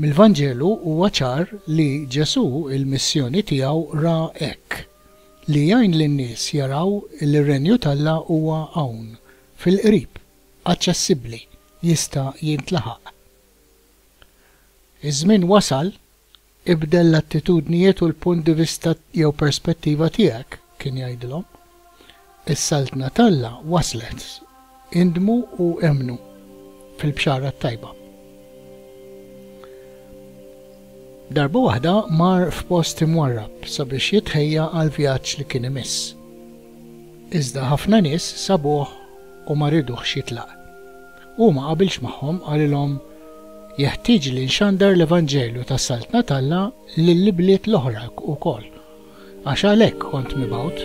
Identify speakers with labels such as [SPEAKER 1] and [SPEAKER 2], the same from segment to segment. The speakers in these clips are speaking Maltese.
[SPEAKER 1] Mill-Vanġelu huwa ċar li Ġesù l-missjoni tiegħu ra hekk, li jgħin lin-nies jaraw li r-Renju t'Alla huwa hawn, fil-qrib, aċċessibbli, jista' jintlaħaq. Iż-żmien wasal Ibdel l-attitudnijiet u l-punt di vista jew perspettiva tiegħek, kien jgħidilhom. Is-Saltna t'Alla waslet. Indmu u emmnu fil-Bxara t-Tajba. Darba waħda mar f'post imwarrab sabiex jitħejja għall-vjaġġ li kien imiss. Iżda ħafna nies sabuh u ma riduhx jitlaq. Hu ma qabilx magħhom, qalilhom, Jeħtieġ li nxandar l-evanġelju tas-Saltna t'Alla lill-ibliet l-oħra wkoll, għax għalhekk kont mibgħut.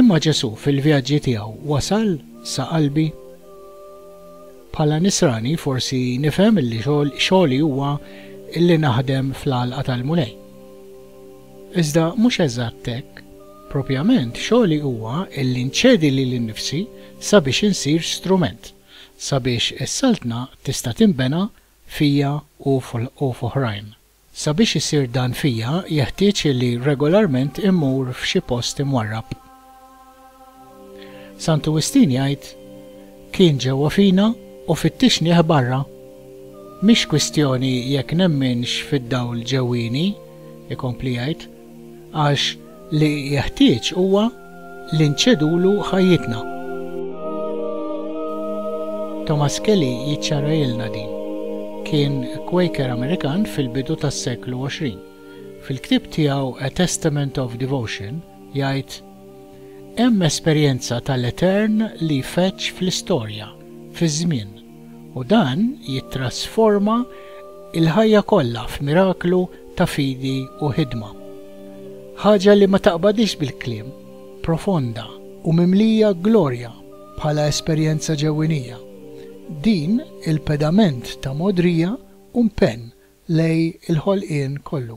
[SPEAKER 1] Imma Ġesù fil-vjaġġi tiegħu wasal sa qalbi? Bħala nisrani forsi nifhem li xogħli huwa li naħdem fl-għalqa tal-Mulej. Iżda mhux eżatt hekk. Propjament, xogħli huwa illi nċedi lili nnifsi sabiex insir strument, sabiex is-Saltna tista' tinbena fija u f'oħrajn. Sabiex isir dan fija jeħtieġ illi regolarment immur f'xi post imwarrab. Santu Wistin jgħid, Kien ġewwa fina u fittixnieh barra. Mhix kwistjoni jekk nemminx fid-dawl ġewwieni, ikompli jgħid, għax li jeħtieġ huwa li nċedulu ħajjitna. Thomas Kelly jiċċarahielna din. Kien Quaker Amerikan fil-bidu tas-seklu 20. Fil-ktieb tiegħu A Testament of Devotion, Jgħid, Hemm esperjenza tal-etern li jfeġġ fl-istorja, fiż-żmien, u dan jittrasforma l-ħajja kollha f'miraklu ta' fidi u ħidma. Ħaġa li ma taqbadhiex bil-kliem, profonda u mimlija glorja bħala esperjenza ġewwinija. Din il-pedament ta' mogħdrija u mpenn lej il-ħolqien kollu.